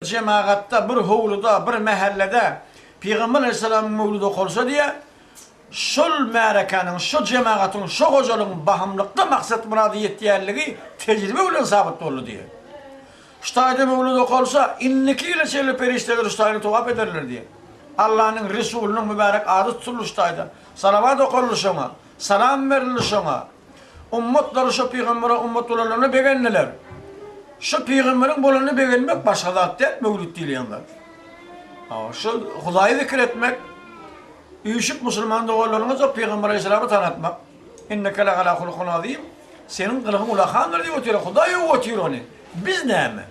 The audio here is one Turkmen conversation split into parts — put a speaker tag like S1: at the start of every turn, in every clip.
S1: Jemagatda, bir howluda, bir mähellede Pygamber alaýhyssalamyň möwlüdi okalsa diýýär, şol märekäniň, şo jemagatyň, şo hojalygyň bahymlykda maksat-murada ýetýänligi tejribe bilen sabyt boldy diýýär. Şu taýda möwlüdi okalsa, indiki ýyla çenli perişdeler şu taýyny towap ederler diýýär. Allanyň Resulynyň mübärek ady tutuldy şu taýda, salawat okalyly şoňa. Salam berildi şoňa. Ummatlary şo pygambere ummat bolanlaryna begendiler. Şo pygamberiň bolanyna begenmek başga zat däl, möwlüt diýilýän zat. Şo Hudaýy zikir etmek, üýşüp musulman doganlaryňyza o pygamber aleýhissalamy tanatmak. Inneke la'ala hulukin azim, seniň gylygyň ulakandyr diýip otyr, Hudaý öwüp otyr ony. Biz näme?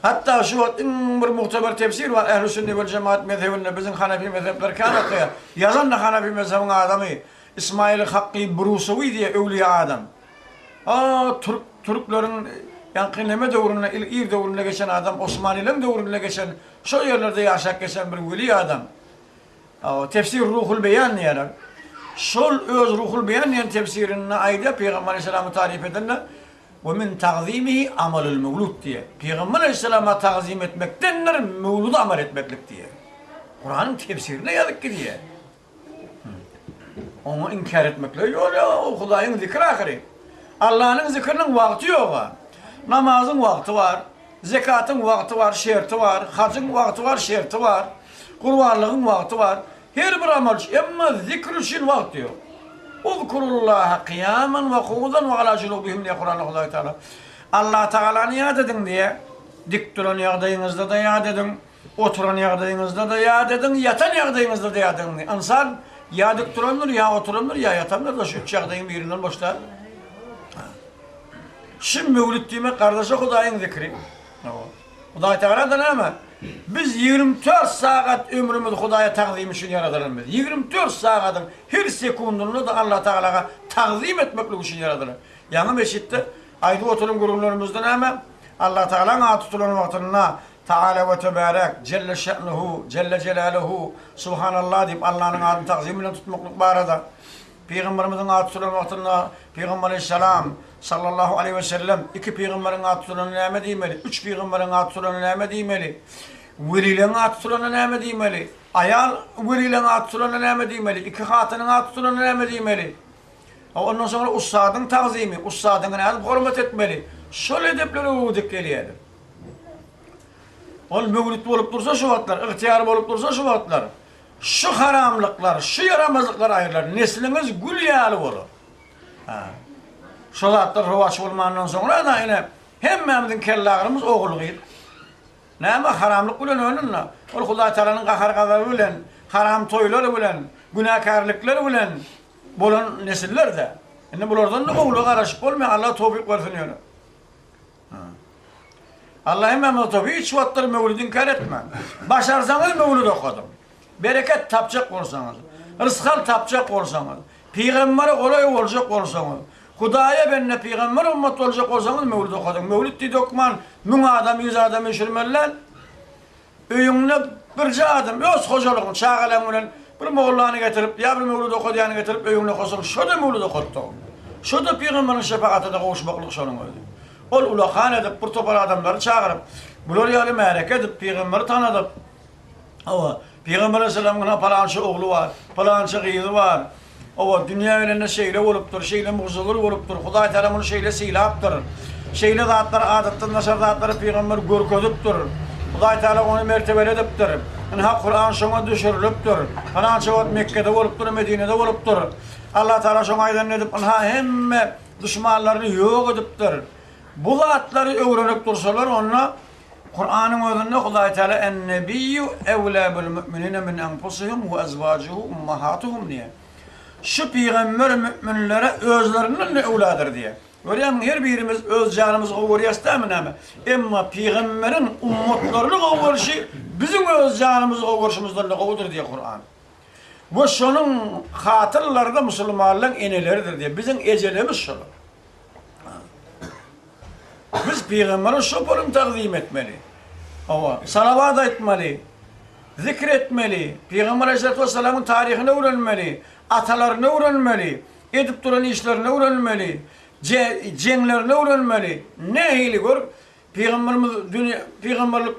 S1: Hatda şu wagt iň bir mugtabar tefsir bar, Ählüsünne wel jemaat mezhebinde biziň hanefi mezhepler kän atlaýar. Ýazan-da hanefi mezhebiň adamy, Ismaýyl Hakky Brusowi diýýär, öwlüýä adam. A, türk, türkleriň ýaňky neme döwründe, il, ir döwründe geçen adam, osmanylaryň döwründe geçen, şo ýerlerde ýaşap geçen bir weli adam. A, tefsir Ruhul beýan diýýärler. Şol öz Ruhul beýan diýen tefsirinde aýdýar, Pygamber aleýhissalamy taryp edende, We men tagzymihi amalul-mewlud diýýär. Pygamber aleýhissalama tagzym etmekdendir mewluda amal etmeklik diýýär. Kuranyň tefsirinde ýazyp gidýär. Oňa inkär etmeklige ýol ýok-a, ol Hudaýyň zikri ahyry. Allanyň zikriniň wagty ýog-a. Namazyň wagty bar, zekatyň wagty bar, şerti bar, hajyň wagty bar, şerti bar, gurbanlygyň wagty bar. Her bir amal üçin, emma zikr üçin wagt ýok. Uzkurullaha kyýaman we kuudan we ala junubihimmdiýýär Kuranda Hudaý Tagala. Alla Tagalany ýat ediň diýýär. Dik duran ýagdaýyňyzda-da ýat ediň, oturan ýagdaýyňyzda-da ýat ediň, ýatan ýagdaýyňyzda-da ýat ediň. Ynsan ýa dik durandyr, ýa oturandyr, ýa ýatandyr-da, şu üç ýagdaýyň birinden boş däl. Şu möwlüt diýmek, gardaş-a Hudaýyň zikri. Hudaýtagala-da näme? Biz ýigrimi dört sagat ömrümizi Hudaýa tagzym üçin ýaradylanbys. Ýigrimi dört sagadyň her sekundynda-da Allatagalaga tagzym etmeklik üçin ýaradylan. Ýaňy meçitde aýdyp oturan gürrüňlerimizde näme? Allatagalaň ady tutulan wagtynda Tagala we Töbärek, Jelle şe'nuhu, Jelle jelaluhu, Subhanallah diýip Allanyň adyny tagzym bilen tutmaklyk barada Pygamberimiziň ady tutulan wagtynda Pygamberi Salam, Sallallahu Aleýhi Wesellem, Iki pygamberiň ady tutulanda näme diýmeli? Üç pygamberiň ady tutulanda näme diýmeli? Welileň ady tutulanda näme diýmeli? Aýal welileň ady tutulanda näme diýmeli? Iki hatynyň ady tutulanda näme diýmeli? Ondan soňra ussadyň tagzymy, ussadyňa nädip hormat etmeli? Şol edepler öwredip gelýärdi. Ol möwlüt bolup dursa şu wagtlar, ygtyýar bolup dursa şu wagtlar. Şu haramlyklar, şu ýaramazlyklar aýrylar, nesliňiz gül ýaly bolar. Hä. Şo zatlar rowaç bolmandan soňra-da ine hemmämiziň kellagrymyz ogul-gyz. Näme haramlyk bilen önen-de, ol Hudaý Tagalanyň gahar-gazaby bilen, haram toýlar bilen, günäkärlikler bilen bolan nesiller-dä. Indi bulardan-da ogula garaşyp bolmaýar, Allah towfyk bersin ýöne. Alla hemme nota hiç wagtlar möwlidi inkär etme. Başarsaňyz möwlid okadyň. Bereket tapjak bolsaňyz, rysgal tapjak bolsaňyz, pygambere golaý boljak bolsaňyz, Hudaýa bende pygamber ummat boljak bolsaňyz möwlid okadyň. Möwlid diýdi hökman müň adam, ýüz adam öçürmeli däl. Öýüňde birje adam öz hojalygyň, çagalaň bilen bir mollany getirip, ýa bir möwlüt okadýany getirip öýüňde okosaň, şo-da möwlüt okatdygyň, şo-da pygamberiň şepagatyna gowuşmaklyk şonuň özi. Ol ulakan edip, bir topar adamlary çagyryp, bular ýaly märeke edip, pygamberi tanadyp, hawa, pygamber aleyhisselamyň ynha palança ogly bar, palança gyzy bar, Hawa, dünýä gelende şeýle bolupdyr, şeýle mugzagül bolupdyr, Hudaý Tagala muny şeýle sylapdyr. Şeýle zatlar, adatdan daşary zatlary pygamber görkezipdir. Hudaý Tagala ony mertebeli edipdir. Ynha, Kuran şoňa düşürilipdir. Pylança wagt Mekgede bolupdyr, Medinede bolupdyr. Allah Tagala şoňa aýdanyny edip, ynha, hemme duşmanlaryny ýok edipdir. Bu zatlary öwrenip dursalar, onda Kuranyň özünde Hudaý Teala En-Nebiyyu ewlâ bil mü'minine min enfusihim we ezwacuhu ummahatuhum diýýär. Şu pygamber mü'minlere özlerinden-de öwladyr diýýär. Görýäňmi, her birimiz öz janymyzy gowy görýäris dämi näme? Emma pygamberiň ummatlaryny gowy görşi biziň öz janymyzy gowy görşimizden-de gowudyr diýýär Kuran. We şonuň hatyrlary-da musulmanlaryň eneleridir diýýär. Biziň ejelerimiz şolar. Biz pygambere şopolun tagzym etmeli. Hawa, salawat aýtmaly, zikr etmeli, pygamber aleýhissalatu wessalamyň taryhyny öwrenmeli, atalaryny öwrenmeli, edip duran işlerini öwrenmeli, jeňlerini öwrenmeli. Nähili gör, pygamberimiz dünýä pygamberlik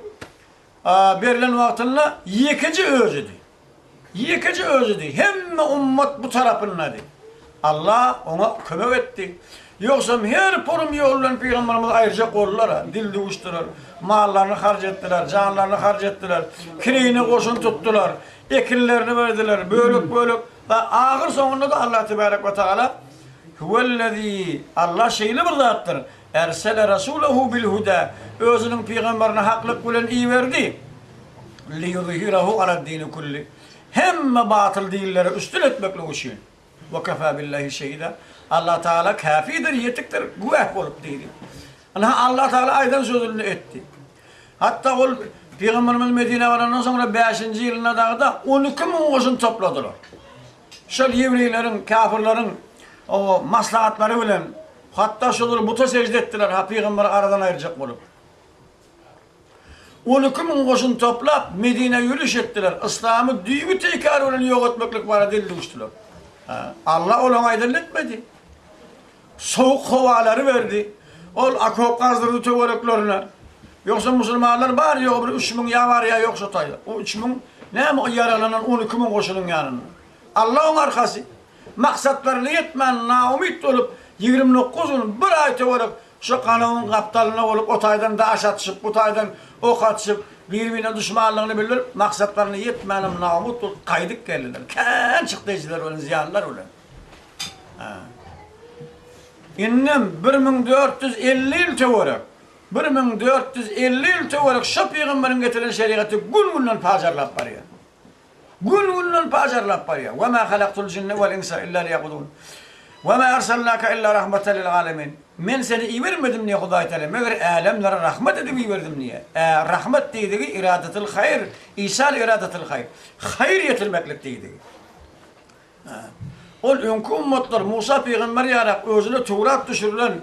S1: berlen wagtynda ýekeje özüdi. Ýekeje Özüdi, hemme ummat bu tarapyndady. Alla oňa kömek etdi. Ýogsam her polum ýol bilen pygamberimizi aýyrjak boldular-a, dil duşduler, mallaryny harç etdiler, janlaryny harç etdiler, kireýine goşun tutdular, ekinlerini berdiler, bölek-bölek, da ahyr soňunda-da Alla tebarek we taala Huwellezî, Alla şeýle bir zatdyr, Ersele rasulehu bil huda, Özüniň pygamberini haklyk bilen iberdi. Liýuzhirahu alad-dini kulli, Hemme batyl dinleri üstün etmeklik üçin. Ve kefâ billahi şehida, Allah Tagala käfidir, ýetikdir, güwäh bolup diýdi. Ynha, Allah Tagala aýdan sözüni etdi. Hatda ol pygamberimiz Medinä barandan soňra bäşinji ýylynda dagy-da on iki müň goşun topladylar. Şol ýewreýleriň, käfirleriň maslahatlary bilen Hatda şolar buta sežde etdiler, ha pygamberi aradan aýyrjak bolup. On iki müň goşun toplap, Medinä ýöriş etdiler, yslamy düýbi-teýkary bilen ýok etmeklik barada dil duşdular. Alla olaryň aýdanyny etmedi. Sowuk howalary berdi. Ol okop gazdyrdy töwereklerine. Ýogsa musulmanlar bary-ýogy bir üç müň ýa bar ýa ýok şo taýda. O üç müň näme o ýaraglanan on iki müň goşunyň ýanynda. Alla oň arkasy. Maksatlaryna ýetmän naumyt bolup, ýigrimi dokuz gün, bir aý töwerek şo galawyň gapdalynda bolup, o taýdan daş atyşyp, bu taýdan ok atyşyp, biri-birine duşmanlygyny bildirip, maksatlaryna ýetmänem naumyt bolup gaýdyp geldiler. Kän çykdy ejiler bilen, zyýanlar bilen. Hä. Indem bir müň dört ýüz elli ýyl töwerek, bir müň dört ýüz elli ýyl töwerek şo pygamberiň getiren şerigaty gün-günden pajarlap barýar. Gün-günden pajarlap barýar. Ve ma halaktul jinne vel insa illa liyabudun. Ve ma arsalnake illa rahmeten lil alemin. Men seni ibermedim diýýär Hudaý Teala, meger älemlere rahmet edip iberdim diýýär. Ä, rahmet diýdigi iradetil haýr, isal iradetil haýr, haýyr ýetirmeklik diýdigi. Ol öňki ümmetler Musa pygamber ýarak özüne Töwrat düşürilen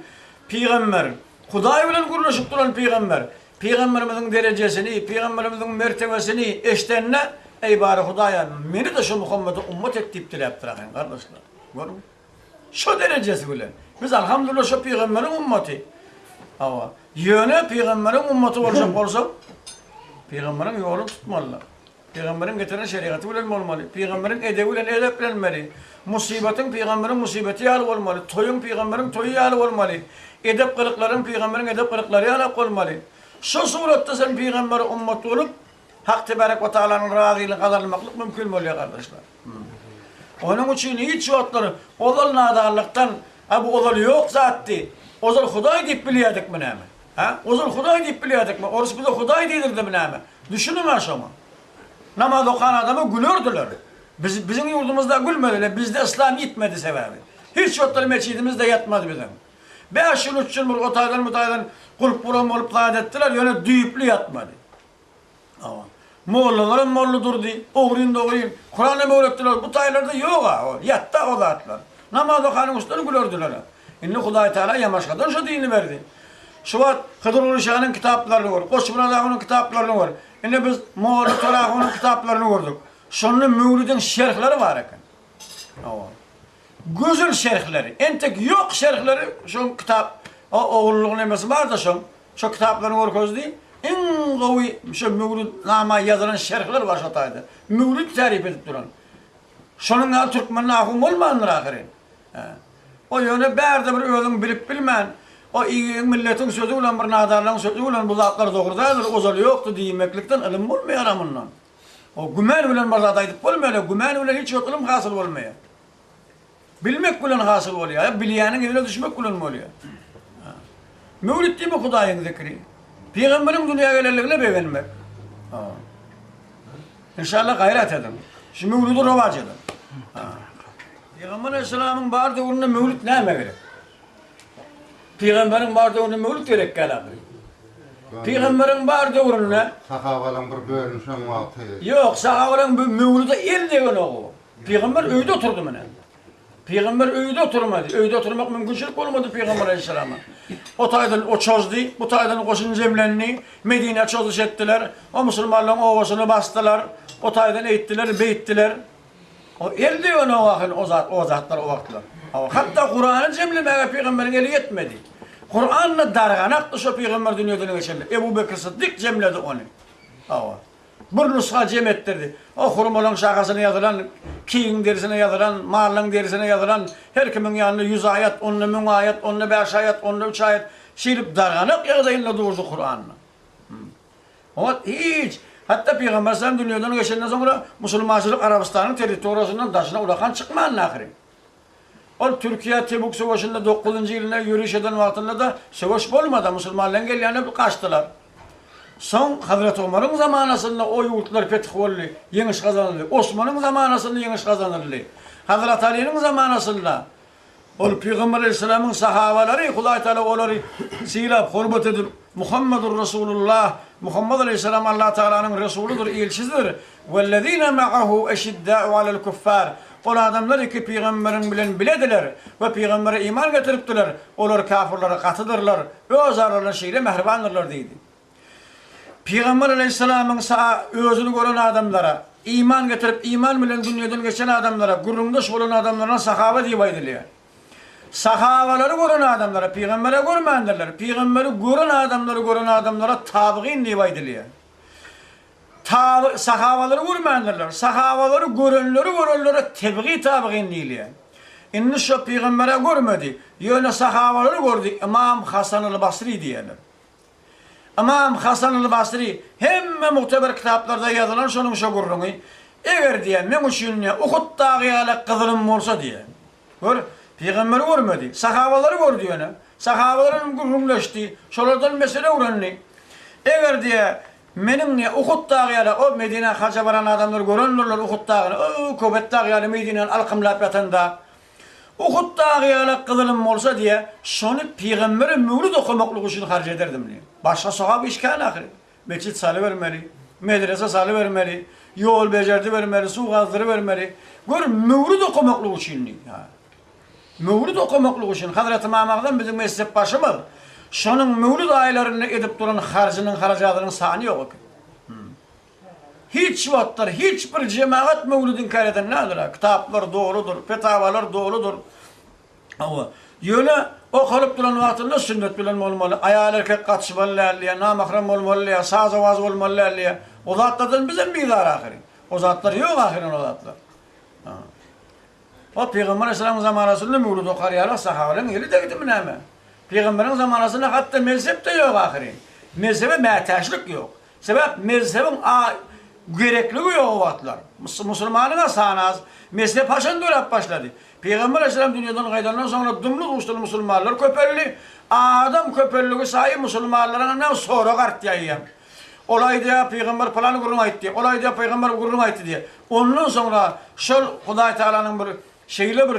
S1: pygamber, Hudaý bilen gürleşip duran pygamber, pygamberimiziň derejesini, pygamberimiziň mertebesini eşdende, Eý bary Hudaýan, meni-de şu Muhammede ummat et diýip diläpdir ahyryn gardaşlar. Görüň. Şo derejesi bilen. Biz alhamdullah şo pygamberiň ummaty. Hawa. Ýöne pygamberiň ummaty boljak bolsak, pygamberiň ýolun tutmalydyr. Pygamberiň getiren şerigaty bilen bolmaly, pygamberiň edebi bilen edeplenmeli, musybatyň pygamberiň musybaty ýaly bolmaly, toýuň pygamberiň toýy ýaly bolmaly, edep-gylyklaryň pygamberiň edep-gylyklary ýalak bolmaly. Şu suratda sen pygambere ummat bolup, Hak Tebärek we Tagalanyň razylygyny gazanmaklyk mümkin bolýar gardaşlar. Onuň üçin hiç wagtlar ozal nadanlykdan, A bu ozal ýok zatdy, ozal Hudaý diýip bilýädikmi näme? Hä? Ozal Hudaý diýip bilýädikmi? Orus bize Hudaý diýdirdimi näme? Düşüniň-ä şoňa. Namaz okan adama gülerdiler. Biz, biziň ýurdumyzda gülmediler. Bizde yslam ýitmedi sebäbi. Hiç wagtlar meçidimizde ýatmaz biziň. Bäş ýyl, üç ýyl bir o taýdan, bu taýdan gulp guran bolup zat etdiler, ýöne düýpli ýatmady. Mollalaram molla durdy. Ogryn dogryn. Kuran hem öwretdiler. Bu taýlarda ýog-a ol. Ýatda o zatlar. Namaz okan uçdan gülerdiler-ä. Indi Hudaý Taýla Ýamaşgadan şu dini berdi. Şu wagt Hydyrguly şanyň kitaplaryny gör, Goçmyrat agynyň kitaplaryny gör. Indi biz Molla Toragunyň kitaplaryny gördük. Şonda möwlüdiň şerhleri bar eken. Gözel şerhleri, entek ýok şerhleri şo kitap o ogullyň nemesi barda şoň şo kitaplaryny görkezdi, iň gowy şo Möwlüt nama ýazylan şerhler bar şo taýda, Möwlüt täryp edip duran. Şonuň ýaly türkmen nahum bolmandyr ahyryn. Hä. O ýöne bärde bir özüň bilip bilmän o iň milletiň sözi bilen bir nadarlaň sözi bilen bu zatlar dogry däldir, ozaly ýokdy diýmeklikden ylym bolmaýara mundan. O güman bilen bir zat aýdyp bolmaýar-a, güman bilen hiç bir ylym hasyl bolmaýar. Bilmek bilen hasyl bolýar, ýa bilýäniň yzyna düşmek bilen bolýar. Ha. Möwlüt diýmek Hudaýyň zikri. Pygamberiň dünýä gelenligine begenmek. Ha. Enşalla gaýrat ediň. Şu möwlüdi rowaç ediň. Ha. Pygamber aleyhisselamyň bar döwründe möwlüt näme gerek? Pygamberiň bar döwründe möwlüt gerek däl ahyry. Pygamberiň bar döwründe. Sahabalaň bir
S2: bölüni şoň wagty. Ýok, sahabalaň
S1: bir möwlüde el degenok o. Pygamber öýde oturdy mine. Pygamber öýde oturmady. Öýde oturmak mümkinçilik bolmady pygamber aleýhissalama. O taýdan o çozdy, bu taýdan goşun jemlendi, Medinä çozuş etdiler. O musulmanlaryň obasyny basdylar. O taýdan eýtdiler, beýtdiler. O eldi ýöne o ahyl o zat o zatlar o wagtlar. Hawa hatda Kurany jemlemäge pygamberiň eli ýetmedi. Kuranda darganakdy şo pygamber dünýeden geçende Ebu Bekr Syddyk jemledi ony. Hawa. Bir nusga jem etdirdi. O hurmalaň şahasyna ýazylan, kigiň derisine ýazylan, mallaň derisine ýazylan her kimiň ýanynda ýüz aýat, onda müň aýat, onda bäş aýat, onda üç aýat şeýdip darganak ýagdaýynda durdy Kuranda. Ol hiç, hatda Pygamber salam dünýeden geçenden soňra musulmançylyk Arabystanyň territoriýasyndan daşyna ulakan çykmandy ahyryn. Ol Türkiýä Tebuk söweşinde dokuzynjy ýylynda ýöriş eden wagtynda-da söweş bolmady, musulmanlaryň gelýänine bir gaçdylar. Soň Hazreti Omaryň zamanasynda o ýurtlar feth boldy, ýeňiş gazanyldy. Osmanyň zamanasynda ýeňiş gazanyldy. Hazreti Aliniň zamanasynda Ol Pygamber Aleýhissalamyň sahabalary Hudaý Tagala olary sylap, hormat edip, Muhammadur Rasulullah, Muhammad Aleýhissalam Allah Tagalanyň Resulydyr, Ilçisidir, Wellezine ma'ahu eşidda'u alel kuffar, Ol adamlar iki pygamberiň bilen bilediler we pygambere iman getiripdiler, olar kafirlere gatydyrlar, özaralarynda şeýle mähribandyrlar diýdi. Pygamber aleýhissalamyň saa özüni gören adamlara, iman getirip iman bilen dünýeden geçen adamlara, gürrüňdeş bolan adamlaryna sahaba diýip aýdylýar. Sahabalary gören adamlara, pygambera görmändirler, pygamberi gören adamlary gören adamlara tabygyn diýip aýdylýar. Taby, sahabalary görmändirler, sahabalary görenleri görenlere tebigi tabygyn diýilýär. Indi şo pygambera görmedi, ýöne sahabalary gördi, ymam Hasan al-Basri diýerler. Ymam Hasan al-Basri, Hemme mugteber kitaplarda ýazylan şonuň şo gürrüňi, eger, diýýär, meň üçin, diýýär, Uhut dagy ýaly gyzylym bolsa, diýýär. Gör, pygamberi görmedi, sahabalary gördi ýöne. Sahabalar bilen gürrüňleşdi, şolardan mesele öwrendi. Eger, diýýär, meniň, diýýär, Uhut dagy ýaly, o Medinä haja baran adamlar görendirler Uhut dagyny, o-o, Köbet dagy ýaly Medinäni alkymlap ýatan dag. Uhud dagy ýalak gyzylym bolsa diýe, şony pygambere möwlüt okamaklyk üçin harç ederdim diýen. Başga sogap iş kän ahyry. Metjit salybermeli, medrese salybermeli, ýol bejerdibermeli, suw gazdyrybermeli. Gör, möwlüt okamaklyk üçin diýdi. Ýa. Möwlüt okamaklyk üçin. Hazreti Ymam Agzam biziň mezhepbaşymyz, Şonuň möwlüt aýlarynda edip duran harjynyň-harajadynyň sany ýok eken. Hiç wagtlar hiç bir jemagat möwlüt inkär eden däldir-ä. Kitaplar doludyr, fetawalar doludyr. Hawa, ýöne okalyp duran wagtynda sünnet bilen bolmaly, aýal-erkek gatyşmaly däl diýýär, namahram bolmaly diýýär, saz-owaz bolmaly däl diýýär. O zatlardan bizem bizar ahyryn. O zatlar ýok ahyryn o zatlar. Hop, pygamber aleyhissalamyň zamanasynda möwlüt okar ýaly sahabalaryň eli degdimi näme? Pygamberiň zamanasynda hatda mezhep-de ýok ahyryn. Mezhebe mätäçlik ýok. Sebäp mezhebiň a gerekligi ýok o wagtlar. Musulmanyň-a sany az. Mezhep haçan döräp başlady? Pygamber alaýhyssalam dünýeden gaýdandan soňra dymly uruşdyl musulmanlar köpeldi. Adam köpeldigi saýy musulmanlaryň ynha sorag artýar ýa. Ol aýdýar pygamber pylan gürrüň aýtdy. Ol aýdýar pygamber gürrüň aýtdy diýýär. Ondan soňra şol Hudaý Tagalanyň bir şeýle bir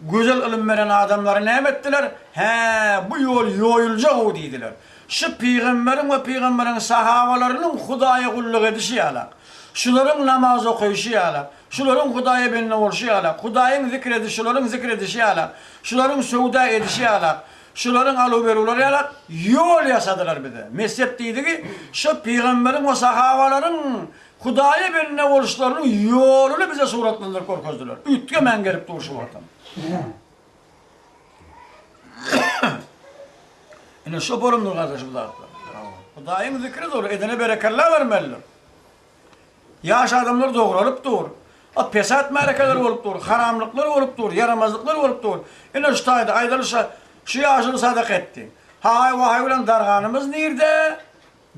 S1: Gözel ylym beren adamlary näme etdiler? Hä, bu ýol ýoýuljag-ow diýdiler. Şu pygamberiň we pygamberiň sahabalarynyň Hudaýa gulluk edişi ýalak. Şularyň namaz okaýşy ýalak. Şularyň Hudaýa bende bolşy ýalak. Hudaýyň zikr edişi şularyň zikr edişi ýalak. Şularyň söwda edişi ýalak. Şularyň aluw-beruwlary ýalak. Ýol ýasadylar bize. Mezhep diýdigi, şu pygamberiň we sahabalaryň Hudaýa bende boluşlarynyň ýoluny bize suratlandyryp görkezdiler. Üýtgemän gelip dur şu Watan. Ine şo bolumdyr gardaş bu zatlar. Hudaýyň zikri dur, edene berekella bermelidir. Ýaş adamlar dogralyp dur. A pesat märekeler bolup dur, haramlyklar bolup dur, ýaramazlyklar bolup dur. Ine şu taýda aýdalyşa şu ýaşuly sadaka etdi. Haý-waý bilen darganymyz nirde?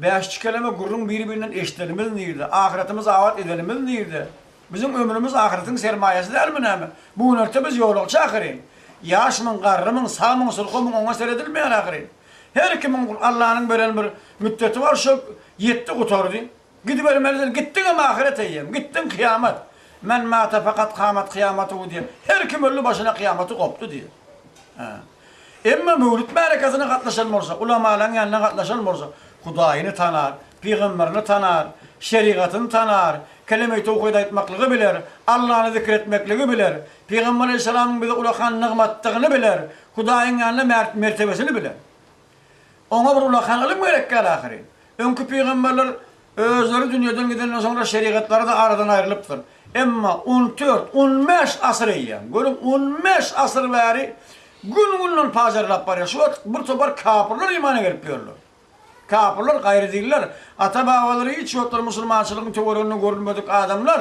S1: Bäş çikeleme gürrüň biri-birinden eşidenimiz nirde? Ahyretimizi abat edenimiz nirde? Biziň ömrümiz ahyretiň sermaýasy dälmi näme? Bu günorta biz ýolagçy ahyryn. Ýaşmyň, garrymyň, sagmyň, sulhymyň oňa seredilmeýär ahyryn. Her kimiň Allanyň beren bir müddeti bar şo ýetdi gutardy. Gidibermelidir, gitdiňem ahyret eýýäm, gitdiň kyýamat. Men mata fakat kamat kyýamatuhu diýýär. Her kim öldi başyna kyýamaty gopdy diýýär. Emma Möwlüt märekäsine gatnaşan bolsa, ulamalaryň ýanyna gatnaşan bolsa, Hudaýyny tanar, pygamberini tanar, şerigatyny tanar, keleme-i towhid aýtmaklygy biler, Allany zikir etmekligi biler, Pygamber alaýhyssalamyň bize ulakan nygmatdygyny biler, Hudaýyň ýanynda mertebesini biler. Oňa bir ullakan ylym gerek däl ahyryn. Öňki pygamberler özleri dünýeden gidenden soňra şerigatlary-da aradan aýrylypdyr. Emma on dört, on bäş asyr eýýäm, görüň, on bäş asyr bäri gün-günden pajarlap barýar. Şu wagt bir topar kapyrlar imana gelip ýörler. Kapyrlar, gaýrydinler, ata-babalary hiç wagtlar musulmançylygyň töwereginde görülmedik adamlar.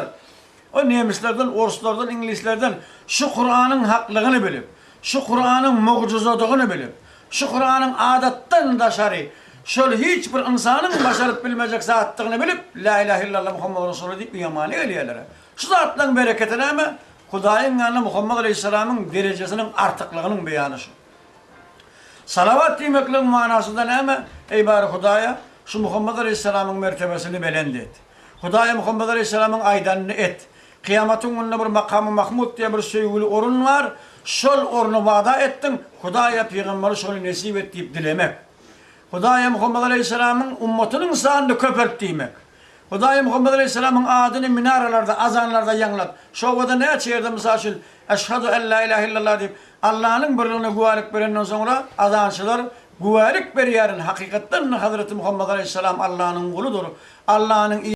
S1: Ol nemislerden, orslardan, iňlislerden şu Kuranyň haklygyny bilip, şu Kuranyň mugjyzadygyny bilip, şu Kuranyň adatdan daşary, şol hiç bir ynsanyň başaryp bilmejek zatdygyny bilip, Lä ilähe illalla Muhammad Rasulullah diýip ýamana gelýärler-ä. Şu zatlaryň bereketi näme? Hudaýyň ýanynda Muhammad aleýhissalamyň derejesiniň artyklygynyň beýany şu. Salawat diýmekligiň manasy-da näme? Eý, bary Hudaýa, şu Muhammad aleýhissalamyň mertebesini belent et! Hudaýa Muhammet aleýhissalamyň aýdanyny et. Kyýamatyň gününde bir Makamy Mahmud diýen bir söýgüli orun bar, şol orny wada etdiň, Hudaýa pygamberi şony nesip et diýip dilemek. Hudaýa Muhammet aleýhissalamyň ummatynyň sanyny köpelt diýmek. Hudaýa Muhammet aleýhissalamyň adyny minaralarda, azanlarda ýaňlat. Şo obada näçe ýerde mysal üçin Eşhadu en la ilahe illallah diýip, Allanyň birligine güwälik berenden soňra azançylar güwälik berýärin, hakykatdan-da Hazreti Muhammet aleýhissalam Allanyň guludyr, Allanyň i.